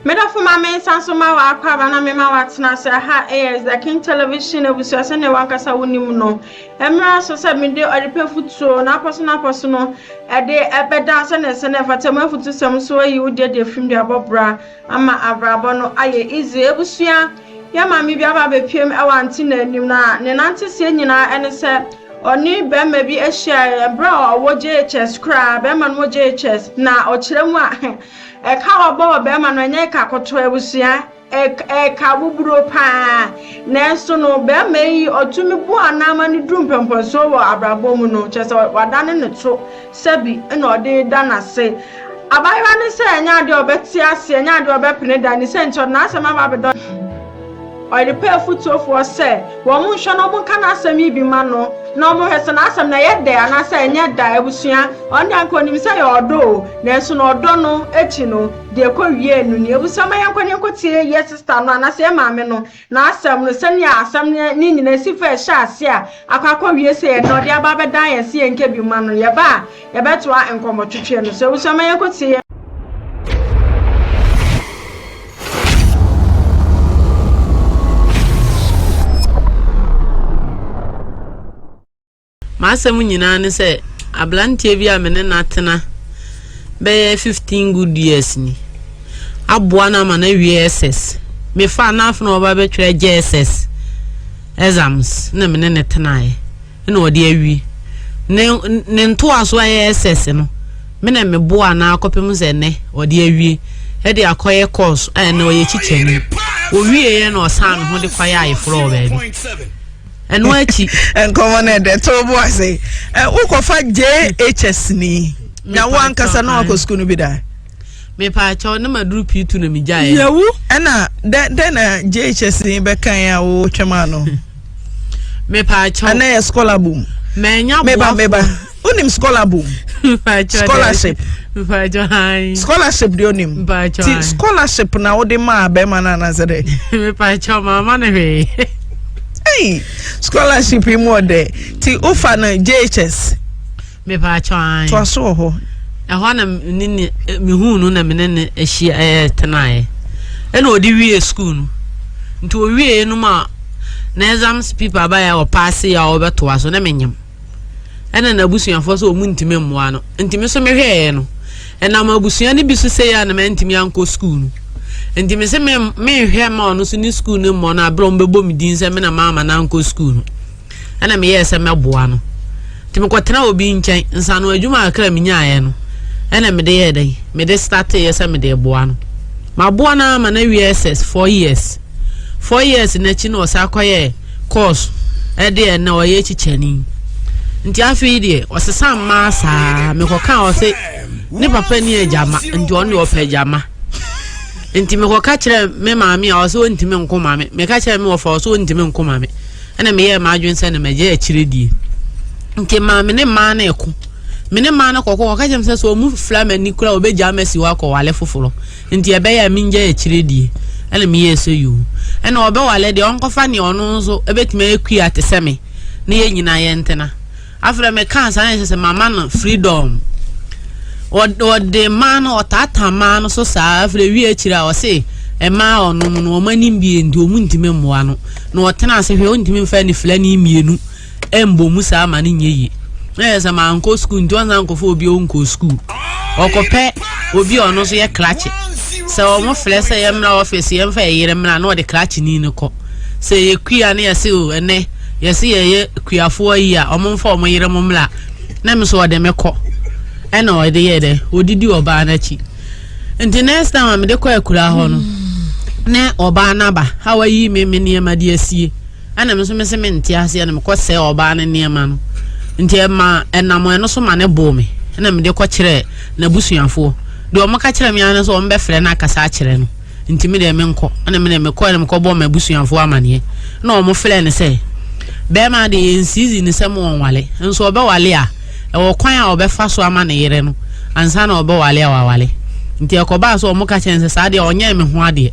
Medɔfo ma me nsa so ma w'akwaaba na mema w'atena ase aha ɛyɛ The King Television abusua sɛnea wankasa wonim no ɛmmra so sɛ mede ɔdepɛ futuo na apɔso na apɔso no ɛde ɛbɛda sɛnea ɛsɛ na ɛfata mu afutusɛm so ayi wo deɛ deɛ fim de abɔ bra ama abrabɔ no ayɛ easy abusua Yɛn maame bi aba abɛpuem wɔ ante no anim, na ne nanteseɛ nyinaa ne sɛ ɔne barima bi hyiaeɛ berɛ a ɔwɔ JHS koraa, barima no wɔ JHS, na ɔkyerɛ mu a, ɛka a wabɔ wɔ barima no ɛnyɛ ɛka kɔtɔɔ abusua, ɛka buburo paa. Nanso no, barima yi ɔtumi bu anaa ma no duru mpɔmpɔnsoɔ wɔ abrabɔ mu no, kyerɛ sɛ wadane ne to. Sɛbi na ɔde reda no ase. Abaayewa no sɛ ɛnyɛ ade a ɔbɛte ase, ɛnyɛ ade a ɔbɛpene da. Ne sɛ nti, ɔde n'asɛm aba abɛda ɔhene anim. Ɔde pɛ afotuofoɔ sɛ wɔnhwɛ na wɔnka n'asɛm yi bi mma no, na wɔnhwɛ sɛ n'asɛm no ɛyɛ dɛ anaasɛ ɛnyɛ dɛ. Abusua, ɔno deɛ anka ɔnim sɛ ɛyɛ ɔdɔ o, nanso na ɔdɔ no akyi no, deɛ ɛkɔwiee no ni. Abusua, ma yɛnkɔ na yɛnkɔtie yɛn sista no anaasɛ yɛn maame no. N'asɛm no, sɛnea asɛm no ne nyinaa si fa a ɛhyɛ ase a akɔ akɔwie sɛ yɛn na ɔde aba abɛdan yɛn sɛ yɛnka bi mma no. Yɛba a, yɛbɛtoa nkɔmmɔtwetwe no so. Abusua, ma yɛnkɔtie yɛn. M'asɛm nyinaa ne sɛ aberanteɛ bi a me ne no atena bɛyɛ fifteen good years ni. Aboa no ama no awie SS. Mefaa no afena ɔba bɛtwerɛ JSS exams na me ne no tenaeɛ na ɔde awie. Ne, ne ntoaso a ɛyɛ SS no, me na meboa no akɔpem sɛ ɛnɛ ɔde awie ɛde akɔyɛ course a ɛnɛ ɔyɛ kyikyani. Ɔwieeɛ na ɔsan ne ho de kɔyɛ ayeforɔ wɔ baabi. ɛno akyi nkɔmmɔ no ɛdɛ to bo ase wokɔfa jhs ni na wo ankasa na wakɔ sukuu no bi da mepaakyɛw ne maduru pii tu na megyaeɛ yɛwu ɛna dɛn na jhs ni bɛkan a wotwam ano mepaakyɛw ɛna yɛ scholar boom mɛnya boafo wonim scholar boom scholarship scholarship deɛ onim ti scholarship na wode maa bɛrima no anasɛ dɛ mepakyɛ maama no hwee hey, scholarship yi mu ɔdɛ ti wofa no jhs mepakyɛ an toa so wɔ hɔ ɛhɔ na ne ne mehu no na mene ne ahyia ɛyɛ tenaeɛ ɛna ɔde wie school no nti ɔwieɛ no mu a na exams people abayɛ a ɔpaase a ɔbɛtoa so na menyam ɛna n'abusuafoɔ sɛ wɔn ntumi mmoa no nti me nso mehwɛeɛ no ɛnam abusua no bi so sɛ yɛ a na mantumi ankɔ sukuu no nti me se me menhwɛ ma ɔno so ne sukuu no mmɔ no aberɛ ɔmo bɛbɔ me din sɛ me na maama no ankɔ sukuu no ɛna meyɛɛ sɛ mɛboa no nti mekɔtena obi nkyɛn nsano adwuma akra menyaeɛ no ɛna mede yɛ dɛn mede starteeɛ sɛ mede boa no maboa no ama no awie ss four years Four years no akyi na ɔsan kɔyɛɛ course de ɛnna ɔyɛ kyikyani. Nti afei deɛ ɔsesa mmaa saa mekɔkaa ɔse ne papa ni agyama nti ɔno deɛ ɔpɛ agyama. Nti mekɔka kyerɛ me maame a ɔse ɔntumi nko ma me. Meka kyerɛ me wɔfa ɔse ɔntumi nko ma me. Ɛna meyɛɛ m'adwene sɛ na magya akyire die. Nti maame ne mmaa no ɛko. Me ne mmaa no kɔkɔ ɔka kyerɛ me sɛ sɛ ɔmu fila m'ani kora ɔbɛgya masi hɔ akɔwale foforɔ. Nti ɛbɛyɛ a mengyae akyire die. Ɛna meyɛɛ sɛ yoo. Ɛna ɔbɛwale deɛ ɔnkɔfa neɛ ɔno nso bɛtumi ayɛ kua te sɛ me na yɛn nyinaa yɛntena. Afei deɛ mekaa saa na ɛsɛ sɛ mama no freedom. Ɔde maa no, ɔtaataa maa no so saa. Afei deɛ wie akyire a ɔse mmaa a ɔnom no wɔn ani mmue nti wɔntumi mmoa no. Na ɔtena ase hwɛ, ɔntumi mfa anifira ani mmienu. ɛmbɔ mu saa ma no nyɛ yie na yɛ sɛ mankɔ sukuu nti ɔnsan nkɔfo obi ɔnkɔ sukuu ɔkɔpɛ obi a ɔno nso yɛ krakye sɛ wɔn frɛ sɛ yɛn mmra ɔfisi yɛn fɛ yɛyere mmra na ɔde krakye ni no kɔ sɛ yɛ kua ne yɛse o ɛnɛ yɛse yɛyɛ kuafoɔ yi a wɔn mfa wɔn yere mo mmra na me so ɔde me kɔ ɛna ɔde yɛ dɛ ɔdidi ɔbaa n'akyi nti next time a mede kɔ akura hɔ no ne ɔbaa n'aba a wayi me me nneɛma de asie ɛna me nso mese mente aseɛ na mekɔ sɛɛ ɔbaa no nneɛma no nti ɛma ɛnam ɛno so ma ne boo me ɛna mede kɔ kyerɛ n'abusuafoɔ deɛ wɔn ka kyerɛ me ara sɛ wɔn bɛfrɛ no akasa akyerɛ no nti me deɛ menkɔ ɛna me deɛ mekɔ ɛna mekɔ bɔ m'abusuafoɔ amaneɛ ɛna wɔn frɛ no sɛ bɛrima deɛ yɛn sizi ne sɛ mo wɔn wale nso ɔbɛwale a ɛwɔ kwan a ɔbɛfa so ama ne yere no ansa na ɔbɛwale a wawale. Nti ɛkɔbaa sɛ wɔka kyerɛɛ no sɛ, Saa deɛ ɔnyɛɛ me ho adeɛ,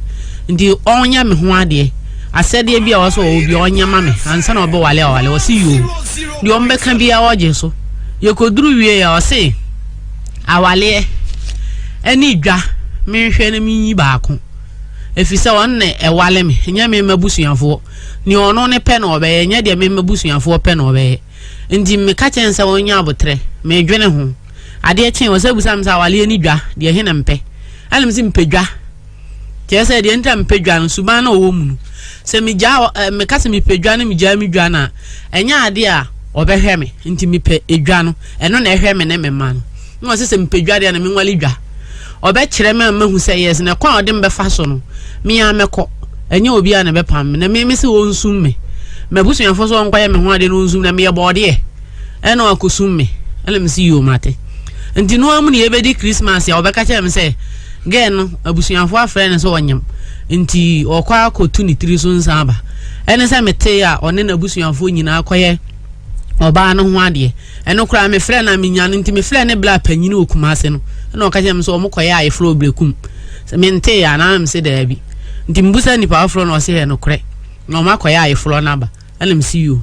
nti ɔnyɛ me ho adeɛ, asɛdeɛ bi a ɔwɔ sɛ ɔwɔ biara ɔnyɛ ma me ansa na ɔbɛwale a wawale. Ɔse, Yoo, deɛ wɔbɛka biara ɔgye so. Yɛkɔduru wieeɛ a, ɔse, Awaleɛ ɛne dwa, menhwɛ na menyi baako. Ɛfiri sɛ ɔno na ɛwale me, ɛnyɛ me mma busuafoɔ. Nea ɔno ne pɛ na ɔbɛyɛ, ɛnyɛ deɛ me mma busuafoɔ pɛ na ɔbɛyɛ. Ntsi mekã kyerɛɛ no sɛ ɔnyɛ aboterɛ. Meedwen ho. Adeɛ kyee, ɔsan bisaa me sɛ awaleɛ ne dwa, deɛ he na mepɛ? Ɛna mese mepɛ dwa. Kyerɛ sɛ, deɛ nti a mepɛ dwa no, suban no a ɔwɔ mu no. Sɛ megyaa ɔ, ɛ, meka sɛ mepɛ dwa na megyaa me dwa no a, ɛnyɛ adeɛ a ɔbɛhwɛ me. Nti mepɛ dwa no. Ɛno na ɛhwɛ me ne me mma no. na ɔse sɛ mepɛ dwa deɛ na menwale dwa ɔbɛkyerɛ me a mahu sɛ yes na kwan a ɔde mbɛfa so no mea mɛkɔ ɛnyɛ obi a na ɛbɛpam me na me me se ɔnsum me mabusuafoɔ so ɔnkɔyɛ me ho adeɛ na ɔnsum na meyɛ bɔɔdeɛ ɛna ɔakɔsum me ɛna me se yoo mate nti no amu ne yɛbɛdi Christmas a ɔbɛka kyerɛ me sɛ gɛɛ no abusuafoɔ afrɛ no sɛ ɔnyam nti ɔkɔ akɔtu ne tiri so nsa aba ɛne sɛ metee a ɔne n'abusuafoɔ nyinaa kɔyɛ ɔbaa no ho adeɛ Ɛno koraa mefrɛ no a menya no nti mefrɛ ne bla panyin wɔ Kumase no ɛna ɔka kyerɛ me sɛ ɔmo kɔyɛ ayeforo wɔ Brekum sɛ mentee anaa mese daabi nti mebusa nnipa foforɔ na ɔse yɛ nokorɛ na ɔmo akɔyɛ ayeforo no aba ɛna mese yoo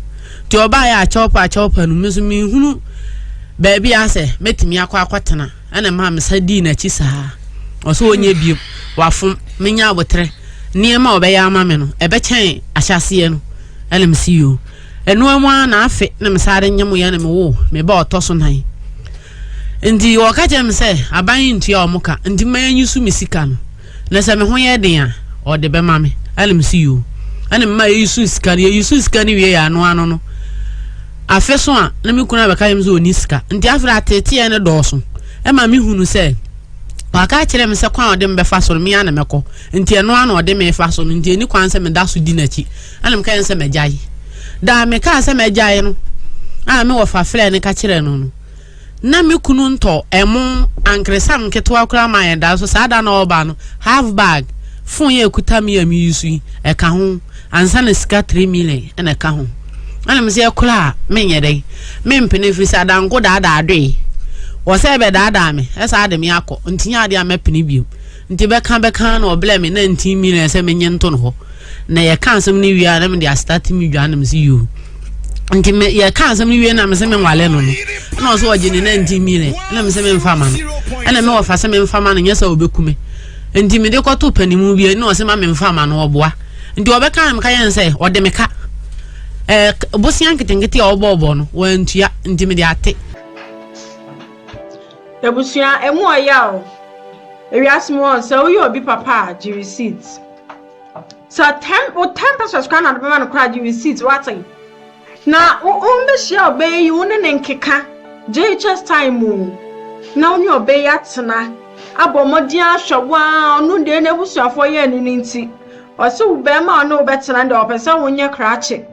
nti ɔbaeɛ a kyɛwpa a kyɛwpa no me nso menhunu baabi a sɛ mɛtumi akɔ akɔtena ɛna maa mesa dii n'akyi saa ɔsɛ ɔnyɛ biom wafom menya aboterɛ nneɛma a ɔbɛyɛ ama me no ɛbɛkyɛn ahyɛaseɛ no ɛna mese yoo Ɛnoa mu ara na afe na mesan de nyemoeɛ na mewoo me ba ɔtɔ so nan. Nti wɔka kyerɛ me sɛ aban yi ntua wɔn ka nti mma yɛnyi so me sika no na sɛ me ho yɛ den a wɔde bɛma me. Ɛna mese yoo. Ɛna mema yɛyi so sika no. Yɛyi so sika no wie yɛ ano ano no afe so a na me kunu abɛka kyerɛ me sɛ ɔni sika. Nti afe no ateeteɛ no dɔɔso. Ɛma me hunu sɛ waka akyerɛ me sɛ kwan a ɔde me bɛfa so no me ara na mɛkɔ. Nti ɛno ara na ɔde me fa so no nti ɛni kwan sɛ meda so di n'akyi. ɛna mekae no sɛ magyae daa mekaa sɛ magyae no a me wɔfa frɛ no ka kyerɛ no no na me kunu ntɔ ɛmo ankeresam nketewa koraa ma yɛn daa so saa da na ɔba no half bag fon yɛ ɛkuta me a meyi so yi ɛka ho ansa na sika 3 million ɛna ɛka ho ɛna mesɛ ɛkora a menyɛ dɛn mempene firi sɛ adanko daadaa adoe wɔ sɛ ɛbɛdaadaa me ɛsaa de me akɔ ntinya adeɛ a mɛpene biom Nti bɛka bɛka na ɔblɛ me na nti mi na ɛsɛ menye nto no hɔ na yɛka asɛm no wie a na mede astate me dwa na mese yoo nti me yɛka asɛm no wie na mese menwale no no ɛna ɔsɛ ɔgye ne na nti mi na ɛna mese memfa ma no ɛna me wɔfa sɛ memfa ma no nyɛ sɛ ɔbɛku me nti mede kɔto panimu bi ɛna ɔsɛ ma memfa ma no ɔboa nti ɔbɛka na meka yɛn sɛ ɔde meka ɛɛ bosia nketenkete a ɔbɔɔbɔ no wɔantua nti mede ate Ebusua, emu ɔyɛ o. Ewiase mu hɔ no, sɛ woyɛ obi papa a, gye receipt. Sɛ ten, wo ten pesos koraa na ɔde bɛma no koraa, gye receipt, wate? Na wo, wombehyia ɔbaa yi, wo ne ne nkeka, JHS time mu, na wo ne ɔbaa yi atena, abɔ mmɔden ahwɛ wo a, ɔno deɛ n'abusuafoɔ yɛ ne no nti, ɔse wo bɛrima a ɔne wo bɛtena deɛ ɔpɛ sɛ wonyɛ krakye.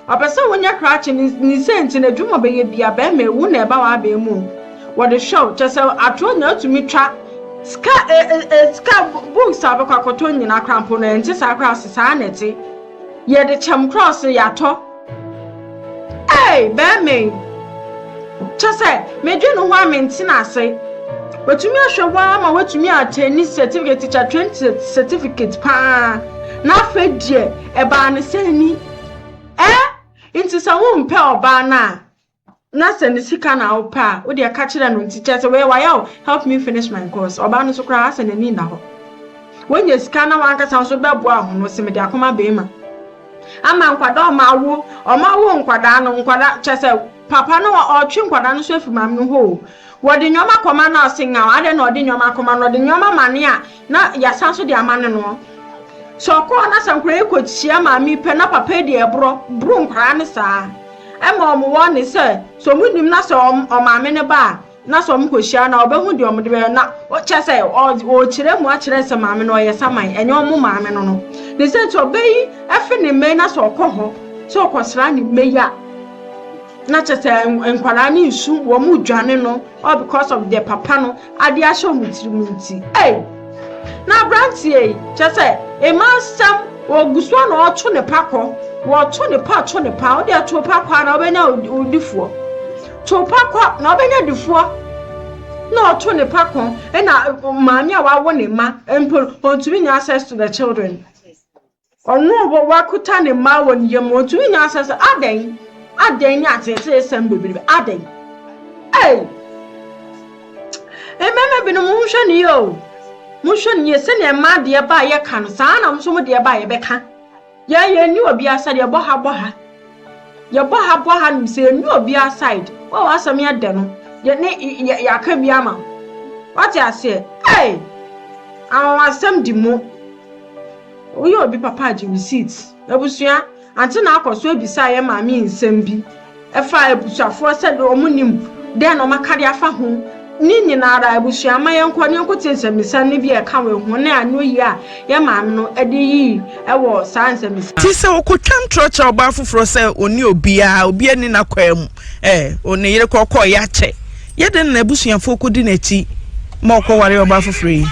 Ɔpɛ sɛ wonya krakye no ne sɛ nti na edwuma ɔbɛyɛ bia bɛrima ewu na ɛba w'abɛn mu wɔde hwɛ wo kyɛ sɛ atoro na atumi twa sika e e e sika books a ɔbɛkɔ akɔtɔ nyina kora mpo no ɛnte saa kora se saa na ɛte yɛde kyɛm kora ɔse yɛatɔ ei bɛrima yi kyɛ sɛ medwe ne ho a mentena ase watumi ahwɛ wo ama watumi atɛni certificate teacher train certificate paa na afei deɛ Ɛbaa no sɛn ni? Ɛɛ, nti sɛ wompɛ ɔbaa no a, na sɛ ne sika na wopɛ a, wodeɛ ka kyerɛ no nti kyɛ sɛ wei wayɛ wo help me finish my course. Ɔbaa no so koraa asɛ n'ani nna hɔ. Wonya sika na wankasa nso bɛboa ho no, sɛ mede akoma bɛrima. Ama nkwadaa ɔma awo, ɔma awo nkwadaa no, nkwadaa kyɛ sɛ papa no ɔtwe nkwadaa no so afiri maame no hɔ o. Wɔde nneɛma kɔma na ɔse nyaw, adɛn na ɔde nneɛma kɔma no, ɔde nneɛma ma ne a, Na yɛasan so de ama no no. Sɛ ɔkɔ hɔ na sɛ nkwadaa yi kɔhyia maame yi pɛ na papa yi deɛ ɛborɔ boro nkwadaa no saa ɛma wɔn wɔne sɛ sɛ wɔn nim na sɛ ɔmaame no ba a na sɛ wɔn kɔhyia na ɔbɛhu deɛ wɔn de bɛyɛ na kyɛ sɛ ɔkyerɛ mu akyerɛ sɛ maame no ɔyɛ saman ɛnyɛ wɔn maame no no ne sɛ nti ɔbɛ yi ɛfe ne mmɛ na sɛ ɔkɔ hɔ sɛ ɔkɔsra ne mmɛ yi a na kyɛ sɛ nkwadaa no nsu wɔn dwane no all because of the papa no Ade ahyɛ wɔn tirim nti. Ei! Na aberanteɛ yi, kyerɛ sɛ, ɛma asɛm wɔgu so a na ɔto ne pa kɔ. Wɔto ne pa, to ne pa. Wodeɛ to pa kɔ a na wobɛnya odifoɔ. To pa kɔ na wobɛnya difoɔ. Na ɔto ne pa kɔ. Ɛna maame a wawo ne mma mpo, ɔntumi nya access to the children. Ɔno a ɔbɔ w'akuta ne mma wɔ ne yam, otumi nya asɛm sɛ, Adɛn? Adɛn ne ateeteesɛm bebrebe? Adɛn? Ei! Mmarima binom, monhwɛ no yie o. Monhwɛ no yie. Sɛnea mmaa deɛ ba a yɛka no, saa na mo nso mo deɛ ba a yɛbɛka. Yɛn yɛnni obiara side, yɛbɔ ha bɔ ha. Yɛbɔ ha bɔ ha nim sɛ yɛnni obiara side. Wo a w'asɛm yɛ dɛ no, yɛne yɛaka bi ama wo. Wate aseɛ? Ei! Anwanwasɛm di mu. Woyɛ obi papa a gye receipts. Abusua, ante na akɔ so abisa yɛn maame yi nsɛm bi ɛfa abusuafoɔ sɛ de wɔn nim dɛn na wɔn aka de afa ho. Ne nyina ara abusua ma yɛn kɔ ne yɛn kɔ tie nsɛmisa no bi a ɛka wɔ ho ne ano yie a yɛn maame no de yii ɛwɔ saa nsɛmisa. Ti sɛ ɔkɔ twa ntorɔ kyerɛ ɔbaa foforɔ sɛ ɔnni obiara, obiara nni n'akwaa mu, eh, ɔne yere kɔ kɔɔ yɛ akyɛ. Yɛ dɛn na n'abusuafo kodi n'akyi ma ɔkɔwaree ɔbaa foforo yi?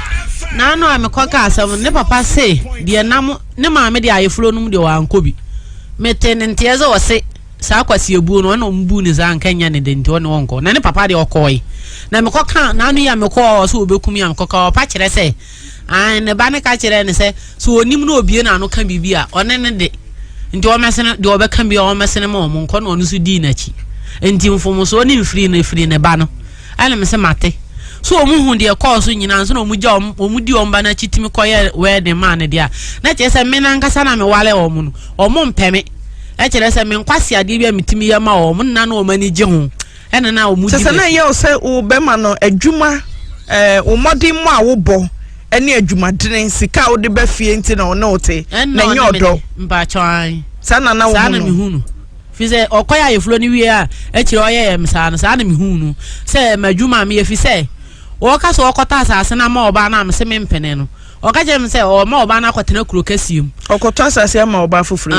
N'ano a mekɔkaa asɛm no, ne papa se deɛ nam ne maame de ayeforo no mu deɛ wankɔ bi. Metee ne nteɛ sɛ ɔse saa kwasiabuo no ɔne ɔmo buu ne saa nka nyɛ ne de nti ɔne ɔnkɔ. Na ne papa deɛ ɔkɔɔe. Na mekɔkaa n'ano yi a mekɔɔ ɔse ɔbɛku me a mekɔkaa ɔpa kyerɛ sɛ Aane, ne ba no ka kyerɛɛ no sɛ, sɛ ɔnim na ɔbue n'ano ka biribi a, ɔne no de, nti ɔmmɛsene, deɛ ɔbɛka biara ɔmmɛsene ma wɔn, nkɔ na ɔno nso dii n'akyi. Nti mfomsoɔ ne mfiri no firi ne ba no. Ɛne me se mate. So wɔn hu deɛ ɛkɔɔ so nyinaa nso na wɔn gya wɔn, wɔn di wɔn ba no akyi tumi kɔyɛ wedding maa no deɛ a, na kyerɛ sɛ me no ankasa na meware wɔn no, wɔn mpɛ me. Ɛkyerɛ sɛ me nkwaseadeɛ bi a metumi yɛ ma wɔn no na na wɔn ani gye ho. Ɛna na wɔn di bɛsi. Kyɛ sɛ na ɛyɛ wo sɛ wo bɛma no adwuma ɛɛ wo mmɔden mu a wobɔ ɛne adwumadene sika a wode bɛ fie nti na ɔne wo te. Na ɛnyɛ ɔdɔ. Mpatsɔ an. Saa na na wo hu no. Saa na mi hu no. Fi sɛ ɔkɔ yɛ ayefuro ne wie a akyire ɔyɛ yɛ msaa no saa na mi hu no sɛ ɛma adwuma mi efi sɛ wɔka sɛ ɔkɔtɔ asaase na ama ɔbaa na mi se mi mpene no. Ɔka kyerɛ me sɛ ɔma ɔbaa no akɔtena kuro kɛseɛ mu. Ɔkɔtɔ asase ama ɔbaa foforɔ yi.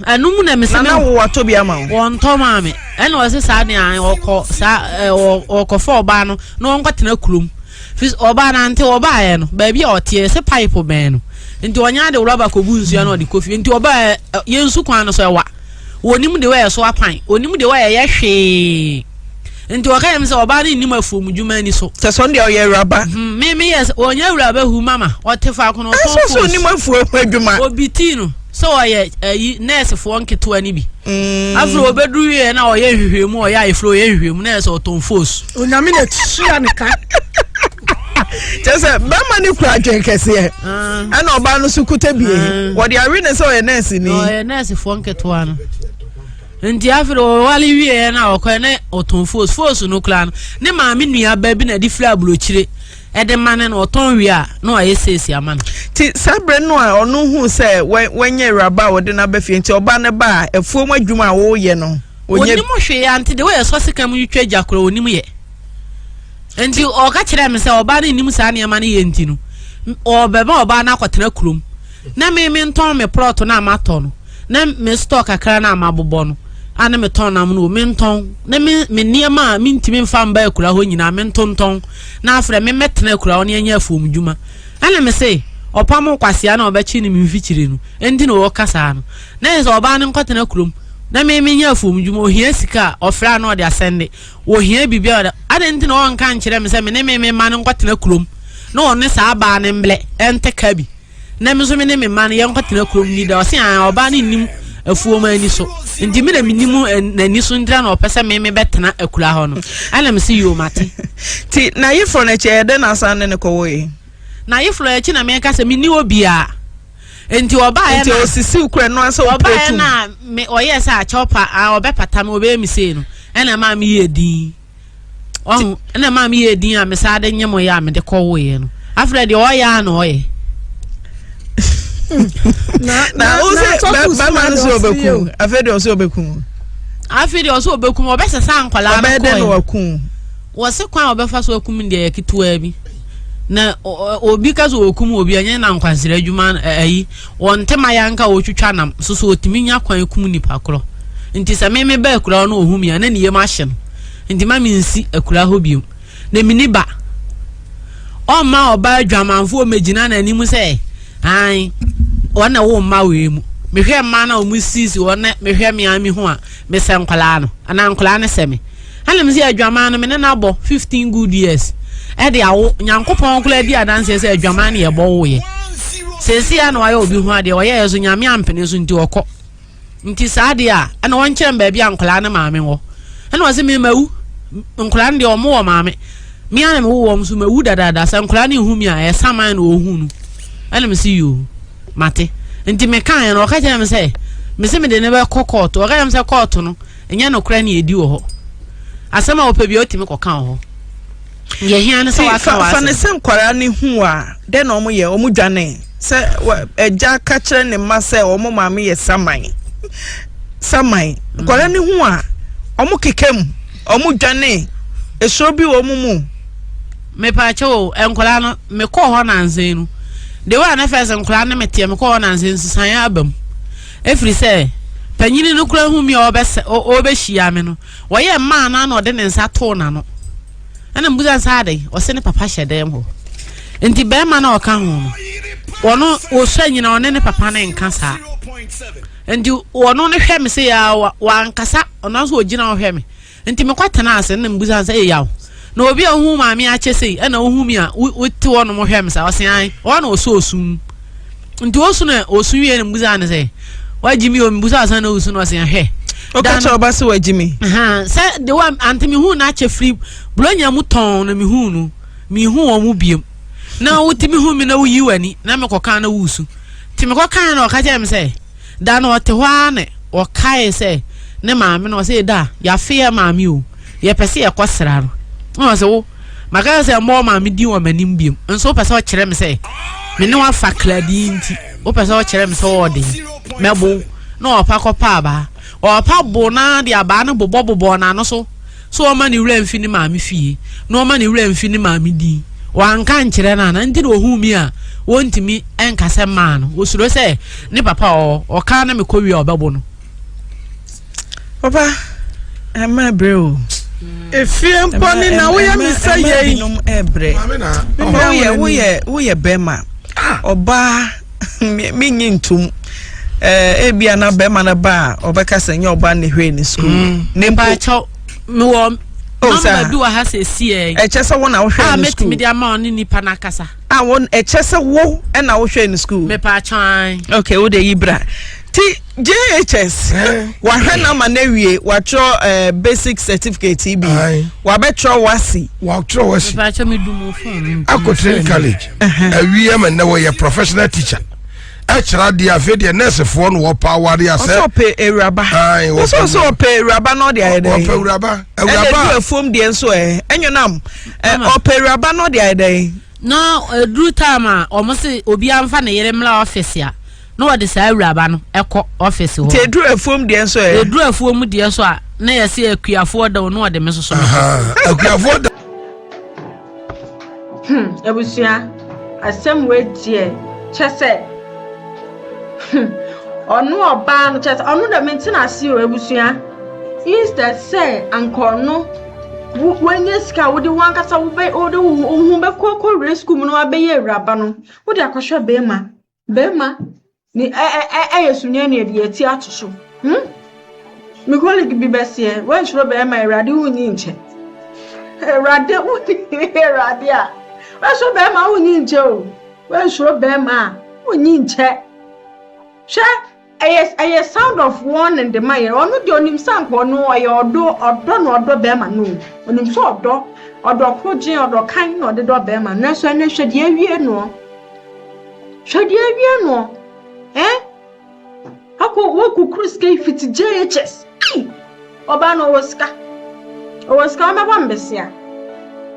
Ah, ɛno mu na me sɛ. Nana wo watɔ bi ama wo. Wɔntɔ maa me. Ɛna ɔse saa deɛ an ɔkɔ saa ɔkɔfa ɔbaa no na ɔnkɔtena kurom. Fis ɔbaa no ante ɔbaeɛ no baabi a ɔteɛ sɛ pipe bɛn no. Nti ɔnya de rɔba kɔbu nsuo na ɔde kɔ fie. Nti ɔbaa yɛn su kwan no so ɛwa. Wɔnim deɛ wɔyɛ so apan. Wɔnim deɛ wɔyɛ yɛ hwee. Nti wɔka yɛm sɛ ɔbaa no nnim afuom dwuma ani so. Sɛ sɔn deɛ ɔyɛ awuraba. Hmm, me me yɛ wɔnyɛ awuraba hu mama. Ɔte faako na ɔtɔn foosi. Ɛsɛ sɛ ɔnim afuom ho adwuma. Obi tii no sɛ ɔyɛ ayi eh, nɛɛsefoɔ nketewa no bi. Hmm. Afei ɔbɛduru yɛ na ɔyɛ nhwehwɛmu ɔyɛ ayeforo ɔyɛ nhwehwɛmu na yɛ sɛ ɔtɔn foosi. Onyame na tia ne ka. kyɛ sɛ bɛrima no kura adwen kɛseɛ ɛna ɔbaa no so kuta bie wɔde awe ne sɛ ɔyɛ nɛɛse ni ɔyɛ nɛɛsefoɔ nketewa no nti afei ɔwale wieɛ no a ɔkɔɛ ne ɔtɔn foos foos no koraa no ne maame nua ba bi na ɛde firi aburokyire ɛde ma no na ɔtɔn wie a na wayɛ seesi ama no nti saa berɛ no a ɔno hu sɛ wanyɛ awuraba a wɔde no aba fie nti ɔba no ba a afuom adwuma a wɔreyɛ no ɔnim hwee ante de woyɛ sɔ sika mu twa gya korɔ ɔnim yɛ Enti ɔka kyerɛɛ me sɛ ɔbaa no nnim saa nneɛma no yɛ nti no, ɔrebɛma ɔbaa no akɔtena kurom na me mentɔn me prɔto no a matɔ no ne me store kakra no a mabobɔ no a na metɔn nam no wom, mentɔn na me me nneɛma a mentumi mfa mba akuraa hɔ nyinaa mentontɔn na afrɛ me mmɛtena akuraa hɔ na yɛnyɛ afuomdwuma. Ɛna me se, ɔpam nkwasea na ɔbɛkye no me mfikyire no nti na ɔreka saa no. Na ɛsɛ sɛ ɔbaa no nkɔtena kurom na me menyɛ afuomdwuma, ɔhia sika a, ɔfrɛ a na ɔde asɛnde. Ohia biribi a, adɛn nti na ɔnka nkyerɛ me sɛ me ne me me mma no nkɔtena kurom na ɔne saa baa no mblɛ ɛntɛ ka bi na me nso me ne me mma no yɛnkɔtena kurom ni da ɔse aa ɔbaa no nnim afuo ma ani so nti me na menim n'ani so ntira na ɔpɛ sɛ me me bɛtena akura hɔ no ɛna me se yoo mate ti na yeforo no akyi ɛyɛ dɛ na asan ne ne kɔwɔ yi na yeforo akyi na meka sɛ menni hɔ biaa nti ɔbaeɛ nti ɔsisiw kura no ansa ɔpɛ tum ɔbaeɛ na me ɔyɛ sɛ akyɛw pa a ɔbɛpata me ɔbɛyɛ me sei no ɛna ɛma me yɛ din ɔho ɛna ɛma me yɛ din a me saa de nye mo yɛ a mede kɔ woeɛ no afei deɛ ɔyɛ a na ɔyɛ na wosɛ bɛma no sɛ ɔbɛku afei deɛ ɔsɛ ɔbɛku afei deɛ ɔsɛ ɔbɛku ɔbɛsɛ sɛ ankwalaa no kɔɛ ɔbɛdɛ na waku wɔse kwan a ɔbɛfa so akum deɛ yɛ ketewaa bi na obi ka sɛ wɔkum obi ɛnyɛ na nkwansere adwuma ayi wɔn ntɛm ayɛ anka wɔtwitwa nam so so wɔtumi nya kwan kum nipa korɔ nti sɛ meme ba akura hɔ na ɔhu me a na ne yam ahye no nti ma mensi akura hɔ biom na mini ba ɔmma ɔba adwamanfoɔ mɛgyina n'anim sɛ an ɔna wo mma wei mu mehwɛ mma na ɔmu sisi ɔna mehwɛ me ami ho a mesɛ nkwalaa no anaa nkwalaa no sɛ me Ɛna mese adwaman no me ne no abɔ 15 good years ɛde awo nyankopɔn koraa di adanseɛ sɛ adwaman ne yɛbɔ woyɛ seesei a na wayɛ obi ho adeɛ ɔyɛɛ so nyame ampene so nti ɔkɔ nti saa adeɛ a ɛna wɔnkyerɛ m baabi a nkwadaa ne maame wɔ ɛna ɔse me mawu nkwadaa no deɛ ɔmo wɔ maame me a na me wowɔ m so mawu dadaada sɛ nkwadaa no hu mi a ɛyɛ saman na ɔhu no ɛna mese yoo mate nti mekaeɛ no ɔka kyerɛ me sɛ mese mede ne bɛkɔ kɔɔto ɔka kyerɛ me sɛ kɔɔto no Ɛnyɛ nokorɛ ne ɛdi wɔ hɔ. Asɛm a ɔpɛ bia ɔtumi kɔka wɔ hɔ. Deɛ hia ne sɛ waka w'asɛm. Fa ne sɛ nkwaraa ne hu a, dɛn na wɔn yɛ? Wɔn dwane. Sɛ ɛgya ka kyerɛ ne mma sɛ wɔn maame yɛ saman, saman. Nkwaraa ne hu a, wɔn keka mu, wɔn dwane. Esoro bi wɔ wɔn mu. Mepaakyɛ o, nkwaraa no, mekɔɔ hɔ nansa yi no. De wɔ a na fɛs nkwaraa ne meteɛ, mekɔɔ hɔ nansa yi, nsesaeɛ aba mu. Ɛfiri sɛ panyini no koraa hu me a ɔrebɛhyia me no, ɔyɛ mmaa no na ɔde ne nsa too n'ano. Ɛna mbusa nsa adɛn? Ɔse ne papa hyɛ dɛm hɔ. Nti bɛrima no a ɔka ho no, ɔno ɔsua nyina ɔne ne papa no nka saa. Nti ɔno no hwɛ me sɛ yɛ wankasa, ɔno nso ɔgyina ɔhwɛ me. Nti mekɔ tenaa ase na mebisa no sɛ ɛyɛ yaw na obi a ohun maame akyɛ sei ɛna ohun mi a wote hɔ nom hwɛ me sa ɔse an ɔhɔ na ɔsɔ osu mu nti osu na osu wie na mebisa no sɛ wagye mi o mebisa ɔsan na osu na ɔse hwɛ ɔka kyɛ ɔba sɛ wagye mi sɛ de wa ante mehun na akyɛ firi buronya mu tɔn na mehun no mehun wɔn mu biem na wotumi hu mi na woyi w'ani na mekɔka na wosu nti mekɔka na ɔka kyɛ me sɛ Da no ɔte hɔ ara na ɔkae sɛ ne maame no, ɔsɛ da yɛafe yɛ maame o, yɛpɛ sɛ yɛkɔ sra no. Ɛna ɔsɛ wo, maka sɛ sɛ mmɔ maame din wɔ m'anim biom, nso wopɛ sɛ ɔkyerɛ me sɛ me ne wafa kladii nti, wopɛ sɛ ɔkyerɛ me sɛ ɔwɔ den, mɛbow. Na ɔpa kɔpa abaa. Ɔpa bow no ara de abaa no bobɔbobɔɔ n'ano so. So ɔma ne werɛ mfi ne maame fie na ɔma ne werɛ mfi ne maame din? Wanka ankyerɛ no anaa? Nti na ɔhuu me a ɔntumi nkasa mmaa no? Ɔsuro sɛ ne papa ɔɔ ɔka na mekɔ wie a ɔbɛbo no? Papa, ɛma ɛbrɛ o. Efie mpo ne na woyɛ me sɛ yɛi. Ɛma binom ɛbrɛ. Woyɛ bɛma. Ɔbaa. menye ntom eh, ebia na bɛrima no ba a ɔbɛka sɛ nyɛ ɔba ne hwee ne sukuu mm. ne mpo mewɔ oh, mama bi wɔ ha sɛ ɛsiɛ ɛkyɛ sɛ wo na wohwɛ ah, ne sukuu mɛtumi de ama ɔne nipa no akasa a ah, wo ɛkyɛ sɛ wo na wohwɛ ne sukuu mepaakyɛn okay wode yi bra ti jhs wahwɛ no ama no awie watwerɛ eh, basic certificate yi bi Aye. wabɛtwerɛ wasi wɔatwerɛ wɔ si Mepakyɛ me dum phone. akɔtene college awie ma nnɛ wɔyɛ professional teacher ɛkyerɛ adeɛ afei deɛ nursefoɔ no wɔpa aware ɔsɛ asɛ ɔpɛ awuraba Aye, wɔpɛ ɔsɛ ɔsɛ ɔpɛ awuraba na ɔde ayɛ dɛ wɔpɛ awuraba ɛna du awuraba afuom deɛ nso ɛ ɛnyɛ nam ɛ Mama. ɔpɛ awuraba na ɔde ayɛ dɛ na ɛduru time a wɔn se obiara mfa ne yere mmra ɔfisi a na wɔde saa awuraba no kɔ ɔfisi hɔ. nti eduru afuom deɛ nso ɛ. eduru afuom deɛ nso a na yɛsi akuafoɔ da o na wɔde me soso me kɔ. akuafoɔ da. hmm abusua asɛm wei deɛ kyɛ sɛ hmm ɔno ɔbaa no kyɛ sɛ ɔno dɛm nti na ase o abusua instead sɛ anka ɔno wanya sika wode wankasa wode wo ho bɛkɔ kɔ wura sukuu mu na wabɛyɛ awuraba no wode akɔhwɛ bɛrima Bɛrima ne ɛ ɛ ɛ ɛyɛ sunyani ɛde ati ato so. Hmm? Me colleague bi bɛseɛ, wɔnhyerɛ bɛrima awurade wonyi nkyɛ. Awurade wonyi awurade a. Wɔnhyerɛ bɛrima wonyi nkyɛ o. Wɔnhyerɛ bɛrima a wonyi nkyɛ. Hwɛ Ɛyɛ ɛyɛ sound of warning de ma yɛ. Ɔno deɛ ɔnim sɛ anka ɔno ɔyɛ ɔdɔ ɔdɔ na ɔdɔ bɛrima no. Ɔnim sɛ ɔdɔ ɔdɔ korogyen ɔdɔ kan na ɔde dɔ bɛrima no. Nanso ɛnɛ hwɛ deɛ awie noɔ. Hwɛ deɛ awie noɔ. Ɛn? Akɔ wɔkukuru sika yi fiti JHS. Ai! Ɔbaa no ɔwɔ sika. Ɔwɔ sika ɔbɛbɔ mbesia.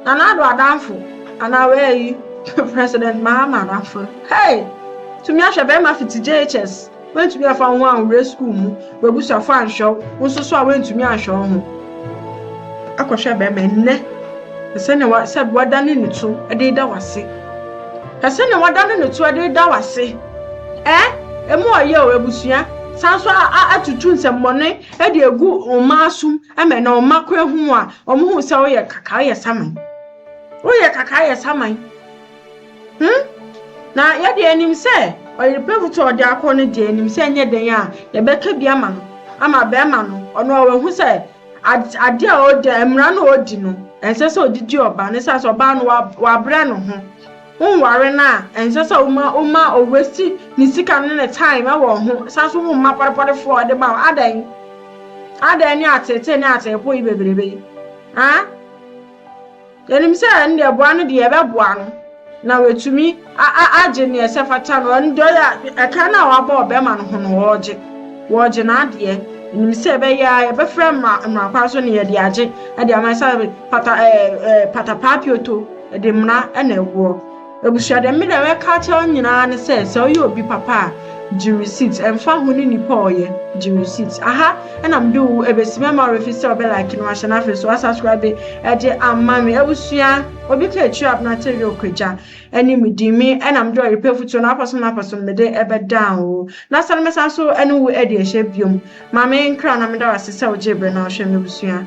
Na n'ado adamfo anaa wɛɛyi president Mahama adamfo no hey tumi ahwɛ bɛɛma fiti JHS wentumi anfa wo ho anwura school mu w'abusuafo anhwɛ wo wo nso so a wentumi anhwɛ wo ho akɔ hwɛ bɛɛma nnɛ ɛsɛ ne wa sɛ wada ne ne to ɛde da wase ɛsɛ ne wada ne ne to ɛde da wase ɛɛ emu ɔyɛ o abusua sanso a a atutu nsɛmmɔne de agu wo mma asom ma na wo mma kɔ ahu a, wɔhu sɛ woyɛ kakaa yɛ saman. Woyɛ kakaa yɛ saman. Hmm? Na yɛde anim sɛ ɔyerepɛfo to ɔde akɔ no deɛ anim sɛ nyɛ dɛn a yɛbɛka bi ama no ama bɛrima no ɔno a wahu sɛ ade a ɔda mmara no a ɔdi no ɛnsɛ sɛ ɔde di ɔbaa no sɛ sɛ ɔbaa no wabrɛ no ho Wonware no a, ɛnsɛ sɛ woma woma o waste ne sika ne ne time wɔ wo ho, san so womma pɔdepɔdefoɔ a ɔde ma wo, adɛn? Adɛn ne ateetee ne ateepo yi bebrebe yi? Haa? Yɛnim sɛ ɛno deɛ boa no deɛ yɛbɛboa no na watumi agye neɛ ɛsɛ fata no, ɛno deɛ ɔyɛ ɛkan no a wabɔ ɔbɛma no ho no ɔregye, wɔregye n'adeɛ, yɛnim sɛ ɛbɛyɛ a yɛbɛfrɛ mmara mmara kwan so ne yɛde agye de ama ɛsɛ fata ɛɛ patapaa pioto. Ɛde mmara na ɛwoɔ. Abusua deɛ me deɛ mɛka akyerɛ wo nyinaa ne sɛ sɛ woyɛ obi papa a gye receipt ɛmfa ho ne nipa a ɔyɛ gye receipt aha ɛna mede wo ɛbɛsi mɛma wo ɛfiri sɛ ɔbɛ like no ahyɛ no afei so asubscribe ɛde ama me abusua obi ka akyiri abena te yɛ ɔkwagya ɛne me di me ɛna mede ɔyepɛ futuo no apɔsom no apɔsom mede ɛbɛdan wo na sɛ no mɛsan so ɛne wo ɛde ɛhyɛ biom ma me nkra na meda wo ase sɛ wogye berɛ na wohwɛ me abusua